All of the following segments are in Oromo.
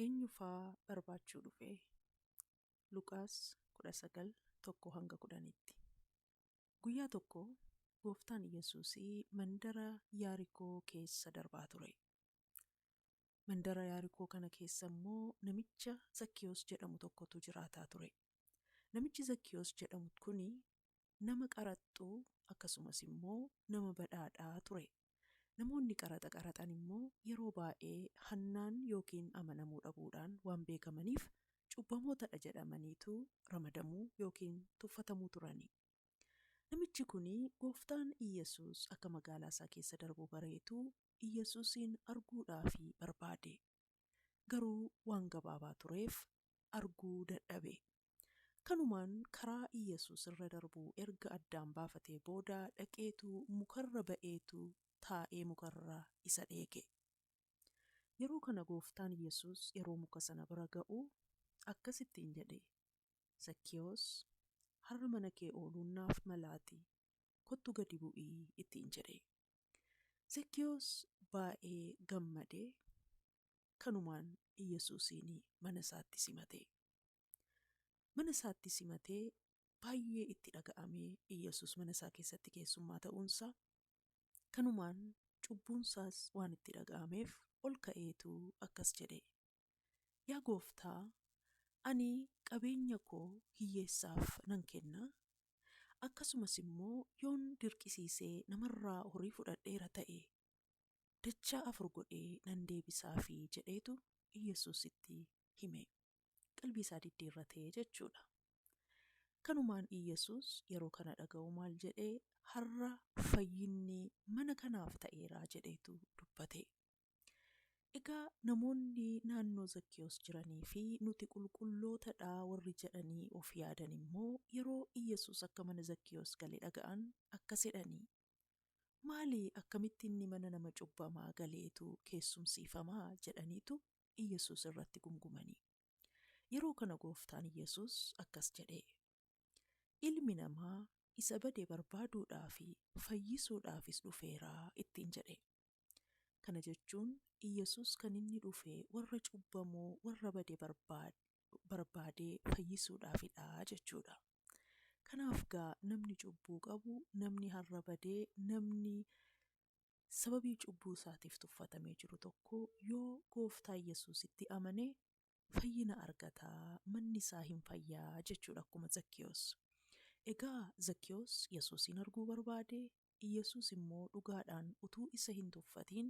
Eenyu faa barbaachuu dhufe? Luqaas 19, 1-10 tti. Guyyaa tokko Gooftaan Yesuusi mandara Yaarikoo keessa darbaa ture. Mandara Yaarikoo kana keessa immoo namicha Zakkiyoos jedhamu tokkotu jiraataa ture. Namichi Zakkiyoos jedhamu kuni nama qaraxxuu akkasumas immoo nama badhaadhaa ture. Namoonni qaraxa qaraxan immoo yeroo baay'ee hannaan ykn amanamuu dhabuudhaan waan beekamaniif cubbamootadha jedhamaniitu ramadamu ykn tuffatamu turani. Namichi kun Gooftaan Iyyasuus akka magaalaa isaa keessa darbu bareetu Iyyasuusiin arguudhaaf barbaade. Garuu waan gabaabaa tureef arguu dadhabe. Kanumaan karaa Iyyasuus irra darbu erga addaan baafatee booda dhaqeetu mukarra ba'eetu taa'ee mukarra isa dheeke. Yeroo kana gooftaan Iyyasuus yeroo muka sana bira ga'u akkas ittiin jedhe, Zakkiyoos, har'a mana kee ooluun naaf malaati, kottu gadi bu'i ittiin jedhe. Zakkiyoos baay'ee gammade, kanumaan Iyyasuusiin mana isaatti simate. Mana isaatti simatee baay'ee itti dhaga'amee Iyyasuus mana isaa keessatti keessummaa ta'uun isaa kanumaan cubbuun isaas waan itti dhaga'ameef ol ka'eetu akkas jedhe Yaa gooftaa ani qabeenya koo hiyyeessaaf nan kenna akkasumas immoo yoon dirqisiisee namarraa horii fudhadheera ta'e dachaa afur godhee nan deebisaafii jedheetu Iyyasuusitti hime. Qalbii isaa diddiirrate jechuudha. Kanumaan Iyyesuus yeroo kana dhaga'u maal jedhe? Har'a fayyinni mana kanaaf ta'eera jedheetu dubbate. Egaa namoonni naannoo Zakkiyoos jiranii fi nuti qulqulloota dha warri jedhanii of yaadan immoo yeroo Iyyesuus akka mana Zakkiyoos gale dhaga'an akkas jedhanii? Maali akkamitti inni mana nama cubbamaa galeetu keessumsiifama? jedhaniitu Iyyasuus irratti gungumanii. Yeroo kana Gooftaan Iyyasuus akkas jedhee, Ilmi namaa isa bade barbaaduudhaa fi fayyisuudhaafis dhufeera ittiin jedhe. Kana jechuun Iyyasuus kan inni dhufe warra cubbamoo, warra bade barbaadee fayyisuudhaafidha jechuudha. Kanaaf gaa namni cubbuu qabu, namni har'a bade, namni sababii cubbuu isaatiif tuffatamee jiru tokko yoo gooftaa Yesuusitti amane fayyina argata, manni isaa hin fayya jechuudha akkuma Zakkiyoos. Egaa Zakkiyoos Yesuusiin arguu barbaade, Yesuus immoo dhugaadhaan utuu isa hin tuffatiin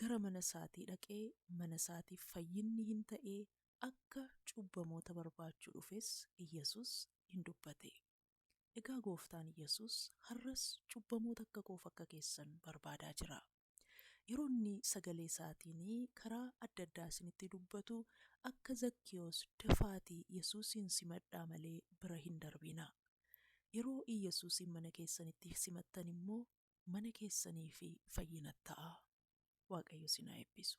gara mana isaatii dhaqee mana isaatiif fayyinni hin ta'ee akka cubbamoota barbaachuu dhufes Yesuus in dubbate. Egaa Gooftaan Yesuus har'as cubbamoota akka koof akka keessan barbaadaa jira. Yeroo inni sagalee isaatiin karaa adda addaa isinitti dubbatu akka Zakkiyoos dafaatii Yesuusiin simadhaa malee bira hin darbinaa. Yeroo Iyyasuusiin mana keessanitti simattan immoo mana keessaniif fayyina ta'a. Waaqayyo isin haa eebbisu.